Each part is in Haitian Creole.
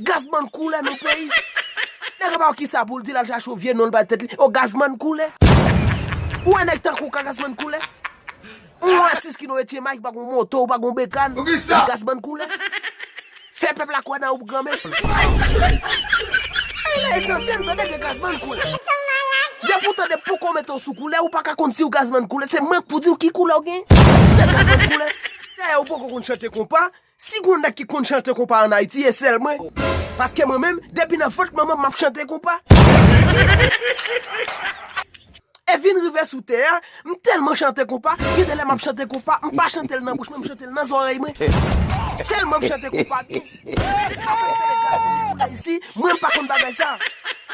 Gazman koule nan peyi. Nèg la pa wè kisa poul di lal chache yon vye non li bay tèt li oh gazman koule. Ou wè nèg tankou w ka gazman koule. Ou yon atis ki nan etyenmay ki pa gon moto ou pa gon bekàn epi gazman koule. Fè pèp la kwè nan ou granmesi. Ey lèy tandem tande gen gazman koule. Depi ou tande poko w mete w sou koulè ou paka konn siw gazman koule se mank pou diw ki koulè w gen. Gen gazman koule. Dayè ou poko konn chante konpa Si gon nèg ki konn chante konpa an ayiti e sèl mwen paske mwen menm depi nan vant manmanm map chante konpa e vin rive sou tè a m tèlman chante konpa gen de lè map chante konpa m pa chantel nan bouch mwen m chantel nan zòrèy mwen tèlman m chante konpa gen afè telegram pou m koule isi mwen m pa konn bagay sa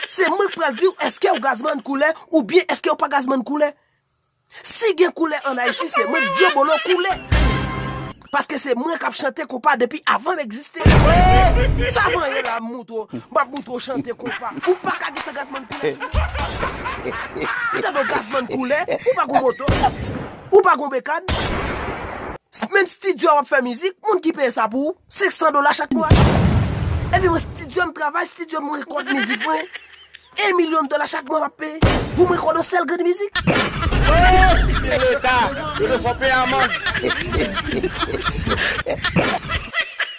se mwen k pral diw eskew gazman koulè oubyen eskew pa gazman koulè. Si gen koulè an Ayiti se mwen Kdjo Bolo koule Paske se mwen kap chante konpa depi avan m egziste Eee sa vanyan la m moutre w M ap moutre w chante konpa Ou pa ka gen tan Gazzman koule sou mwen Tande w Gazzman koule Ou pa gon moto Ou pa gon bekàn Menm stidyo a w ap fè mizik Moun ki peye sa pou ou 500 dola chak mwa Epi mwen stidyo m travay stidyo m rekòd mizik mwen. 1 million dola chak mwa map peye poum rekòd yon sèl grenn mizik. Ooh se leta yo te fò peye amand.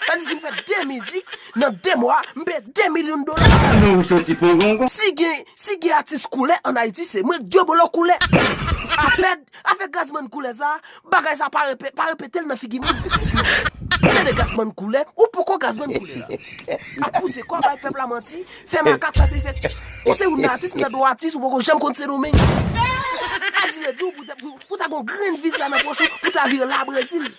Sa vle di si m fè 2 mizik nan 2 mwa m peye 2 million dola. Ki non ou soti pongongon. Si gen si gen atis koulè an ayiti se mwen k dyobolo koulè. Afè afè gazman koulè sa Bagay sa pa repe, pa repetel nan figi moun. Tande gasman koule, ou poko gasman koule la. Ap pouse kò bay pèp la manti, fè makak pase fè. Ou se youn nan atis m nan do atis ou poko janm konn sendomeng. Adire diw pou ta gon grenn vidya nan poch ou pou ta vire la brezil.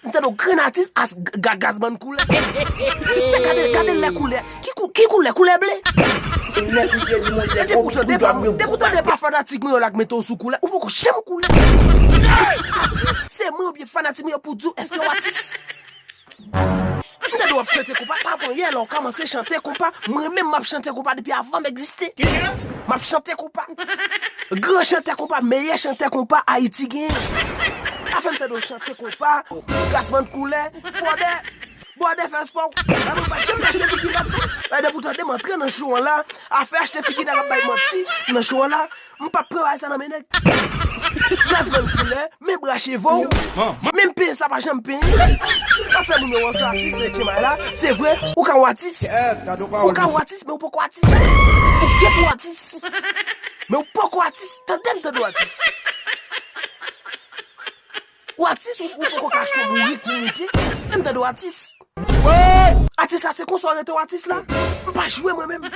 M tande w grenn atis as gagazmann koulè. Tout sa gade gade lè koulè. Ki koulè koulè ble. Ou nèt ou jedi mondyè gwo kout kou dwam yo gwo pase. Depi w tande pa fanatik mwen yo la k mete w sou koulè ou poko janm koulè. Atis se mwen oubyen fanatik mwen yo pou di w èske w atis. M tande wap chante konpa sa bon yè la ou kamanse chante konpa mwen menm map chante konpa depi avan m egziste map chante konpa gran chantè konpa meyè chantè konpa ayiti genyen pa fèm tande w chante konpa gasman koulè bwòdè bwòdè fè spò w la mwen pa janm achte figi m pa t ka depi w tande m antre nan show an la afè achte figi nèg ap bay manti nan show an la M pap pran bagay sa nan men nèg. Gaz menm koulè, menm bra cheve w, menm penyen sa pa janm penyen. Sa fè moun yo wè w se atis nan Etchenbay la, se vre ou ka ou atis. Ou ka ou atis men ou poko atis. Ou gen pou w atis men ou poko atis tande m tande w atis. Ou atis ou poko ka achte bourik pou moute em tande w atis. Atis la se konsa w rete w atis la? M pa jwe mwen menm.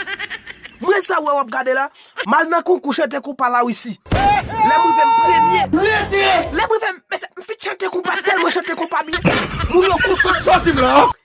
Mwen sa wè wap gade la, m al nan konkou chante konpa la wisi. Lè m rive m premye. Lè m rive m finn chante konpa telman chante konpa byen. Moun yo kontan.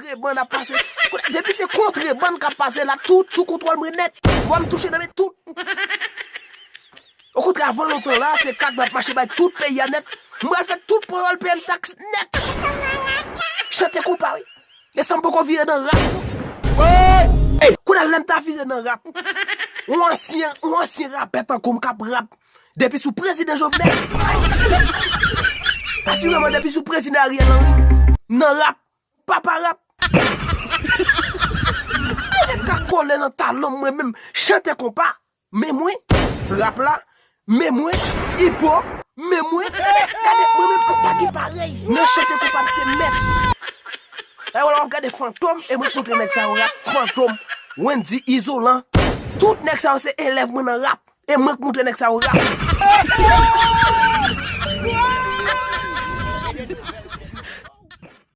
kontrebann ap pase depi se kontrebann kap pase la tout sou kontwòl mwen nèt vòlò touche nan men tout okontrè avan lontan la se kat map mache bay tout peyi a nèt m pral fè tout panyòl peye m taks nèt chante konpa wi e san m poko vire nan rap woyy kounye a lè m ta vire nan rap yon ansyen yon ansyen rapè tankou m kap rap depi sou prezidan jovenel asireman depi sou prezidan ariel henry m nan rap. Papa rap. Mwen ret ka kole nan talonm mwen menm chante konpa men mwen rap la men mwen ipo men mwen gade mwen menm anpa gen parèy nan chante konpa m se mèt ewa la wap gade fantom e mwen t montre nèg sa yo rap fantom wendy izolan tout nèg sa yo se elèv mwen nan rap e mwen k montre nèg sa yo rap